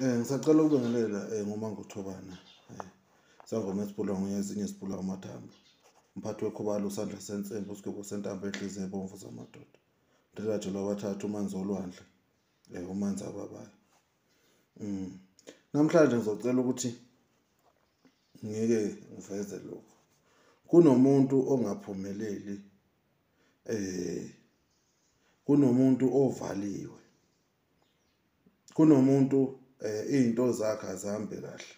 Eh ngisacela ukubingelela eh ngoma ngothobana. Eh sangoma esibulwa ngoye ezinye sibulwa amathambo. Umphathi wekhubalo usandla sensembe usigwebo sentambo enhliziyo ebomvu zamadoda. Ndilaje lwabathathu umanzi olwandle. Eh umanzi ababayo. Mm. Namhlanje ngizocela ukuthi ngike ngiveze lokho. Kunomuntu ongaphumeleli eh kunomuntu ovaliwe kunomuntu eh, izinto zakhe azihambe kahle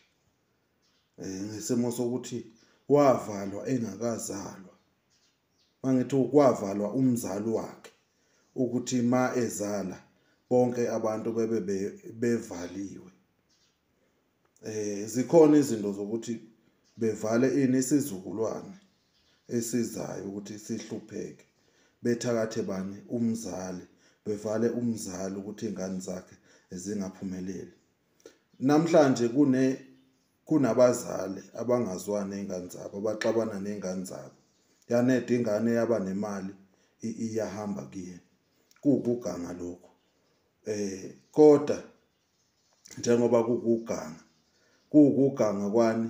eh, ngesimo sokuthi wavalwa engakazalwa mangithi ukwavalwa umzali wakhe ukuthi ma ezala bonke abantu bebe bevaliwe eh zikhona izinto zokuthi bevale ini isizukulwane esizayo ukuthi sihlupheke bethakathe bani umzali bevale umzali ukuthi ingane zakhe zingaphumeleli namhlanje kune kunabazali abangazwani nezingane zabo abaxabana nezingane zabo yanede ingane yaba nemali iyahamba kuyena kuwukuganga lokho eh kodwa njengoba kukuganga kuwukuganga kwani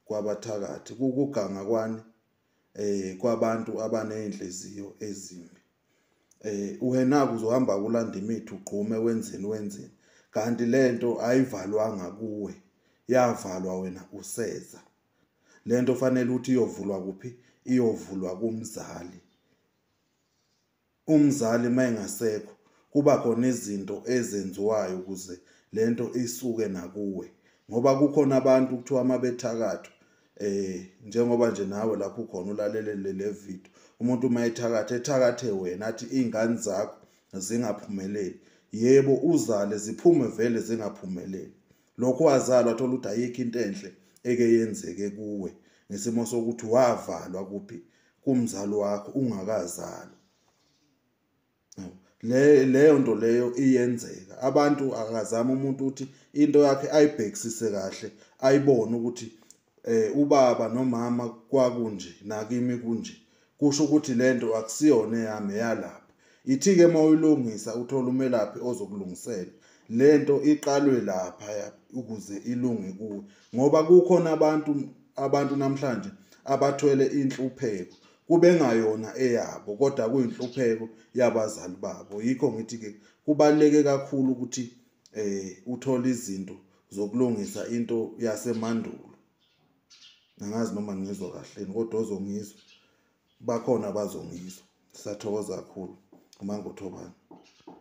kwabathakathi kukuganga kwani eh kwabantu abanezinhliziyo ezimbi eh wena kuzohamba kulanda imithi ugqume wenzeni wenzeni kanti lento ayivalwanga kuwe yavalwa wena useza lento fanele uthi iyovulwa kuphi iyovulwa kumzali umzali mayengasekho kuba khona izinto ezenziwayo ukuze lento isuke nakuwe ngoba kukhona abantu kuthiwa mabethakatha eh njengoba nje nawe lapho khona ulalelele le video umuntu uma ethakatha ethakathe wena athi izingane zakho zingaphumeleli yebo uzale ziphume vele zingaphumeleli lokho wazalwa thola ukuthi ayikho into enhle eke yenzeke kuwe ngesimo sokuthi wavalwa kuphi kumzali wakho ungakazalwa le leyo nto leyo iyenzeka abantu akazama umuntu ukuthi into yakhe ayibhekisise kahle ayibone ukuthi eh ubaba nomama kwakunje nakimi kunje kusho ukuthi lento akusiyona eyami eyalapha ithi ke mawuyilungisa uthola umelaphi ozokulungisela lento iqalwe lapha ukuze ilunge kuwe ngoba kukhona abantu abantu namhlanje abathwele inhlupheko kube ngayona eyabo kodwa kuyinhlupheko yabazali babo yikho ngithi ke kubaleke kakhulu ukuthi eh uthola izinto zokulungisa into yasemandulo angazi noma ngizwa kahleni kodwa ozongizwa bakhona abazongizwa sisathokoza kakhulu umangothobani